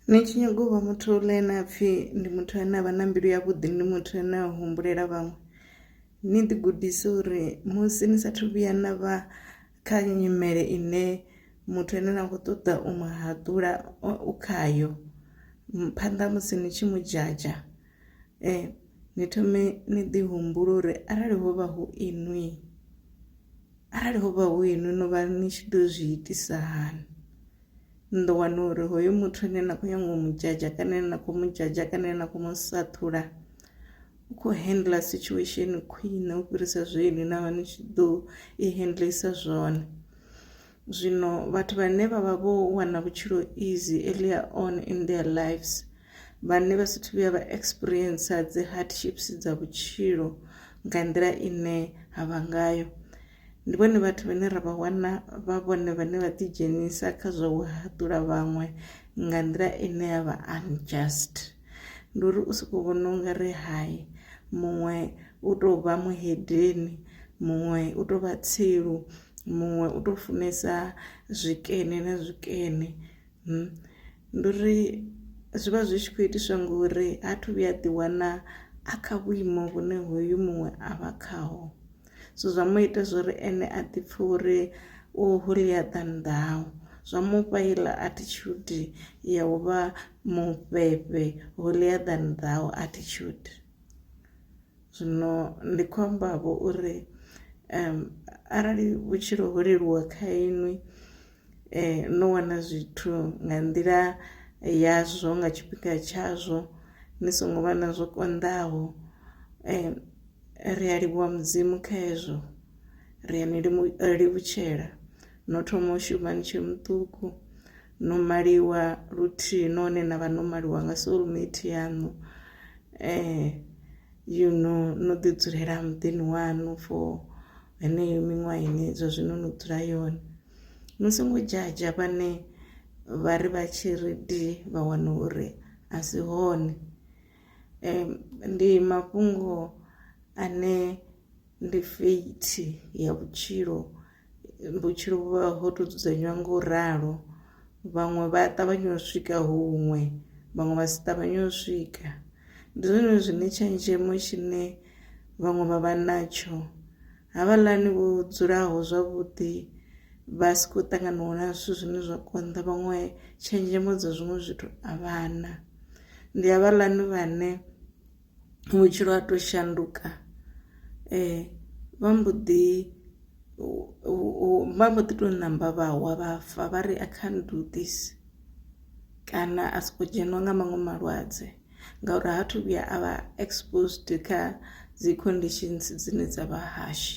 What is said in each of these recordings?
Ni tshi nyaga u vha muthu ḽe na pfhi ndi muthu ane avha na mbilu ya vhuḓi ndi muthu ane a humbulela vhaṅwe ni ḓi gudise uri musi ni sathu vhuya na vha kha nyimele ine muthu ane na kho ṱoḓa u mu haṱula u khayo phanḓa ha musi ni tshi mu dzhadzha ni thome ni ḓi humbula uri arali hovha hu inwi arali hovha hu inwi no vha ni tshi ḓo zwi itisa hani. ni ḓo wana uri hoyo muthu ane na kho nyaga u mu dzhadzha kana ane na kho mu dzhadzha kana ane na kho mu sa ṱhula u kho handle situation khwine u fhirisa zwe inwi na vha ni tshi ḓo i handle isa zwone. Zwino vhathu vhane vha vha vho wana vhutshilo easy earlier on in their lives vhane vha sathu vhuya vha experience dzi hardships dza vhutshilo nga nḓila ine ha vha ngayo. Ndi vhone vhathu vhane ra vha wana vha vhone vhane vha ḓi dzhenisa kha zwa u haṱula vhaṅwe nga nḓila ine ya vha unjust ndi uri u soko vhona ungari hai muṅwe u tou vha muhedeni muṅwe u tou vha tsilu muṅwe u tou funesa zwikene na zwikene ndi uri zwi vha zwi tshi khou itiswa ngori ha thu vhuya a ḓi wana a kha vhuimo vhune hoyu muṅwe a vha khaho so zwa mu ita zwori ene a ḓi pfhe uri u holier than thou zwa mufha iḽa attitude ya u vha mufhefhe holier than thou attitude zwino ndi khou amba vho uri um arali vhutshilo ho leluwa kha inwi eh no wana zwithu nga nḓila yazwo nga tshifhinga tshazwo ni songo vha na zwo konḓaho . ri a livhuwa mudzimu kha hezwo ri a ni livhutshela no thoma u shuma ni tshe muṱuku no maliwa luthihi none na vha no maliwa nga soulmate yaṋu um eh, you know no ḓi dzulela muḓini waṋu for heneyo miṅwaha ine zwa zwino no dzula yone no songo dzhadzha vhane vha ri vha tshi ri di vha wana uri a si hone Ndi mafhungo ane ndi fate ya vhutshilo vhutshilo vhu vha ho to dzudzanywa nga u ralo vhaṅwe vha a ṱavhanya u swika huṅwe vhaṅwe vha si ṱavhanye u swika ndi zwone zwine tshenzhemo tshine vhaṅwe vha vha natsho. Havhaḽani vho dzulaho zwavhuḓi vha si khou ṱanganiwa na zwithu zwine zwa konḓa vhaṅwe tshenzhemo dza zwiṅwe zwithu a vha na, ndi havhaḽani vhane vhutshilo ha to shanduka vha mbo ḓi vha mbo ḓi to ṋamba vha wa vha fa vha ri I can't do this kana a soko dzheniwa nga maṅwe malwadze. ngauri ha thu vhuya a vha exposed kha dzi conditions dzine dza vha harsh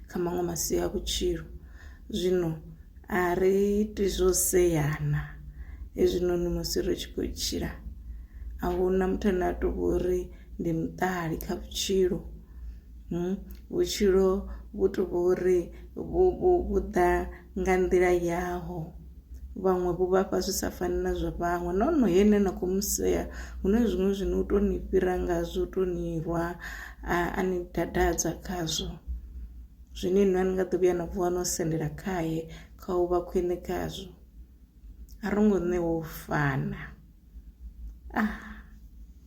kha maṅwe masia a vhutshilo zwino a ri iti zwo seyana hezwinoni musi ri tshi khou tshila a huna muthu ane a tou vhori ndi muṱali kha vhutshilo hmm, vhutshilo vhu tou vhori vhu ḓa nga nḓila yaho vhaṅwe vho vhafha zwi sa fani na zwa vhaṅwe no no he ne na khou mu sea hu na zwiṅwe zwine u tou ni fhira ngazwo u tou ni rwa a ni dadadza khazwo zwine inwi a ni nga ḓo vhuya na vuwa no sendela khaye kha u vha khwine khazwo a ro ngo ṋewa u fana ah.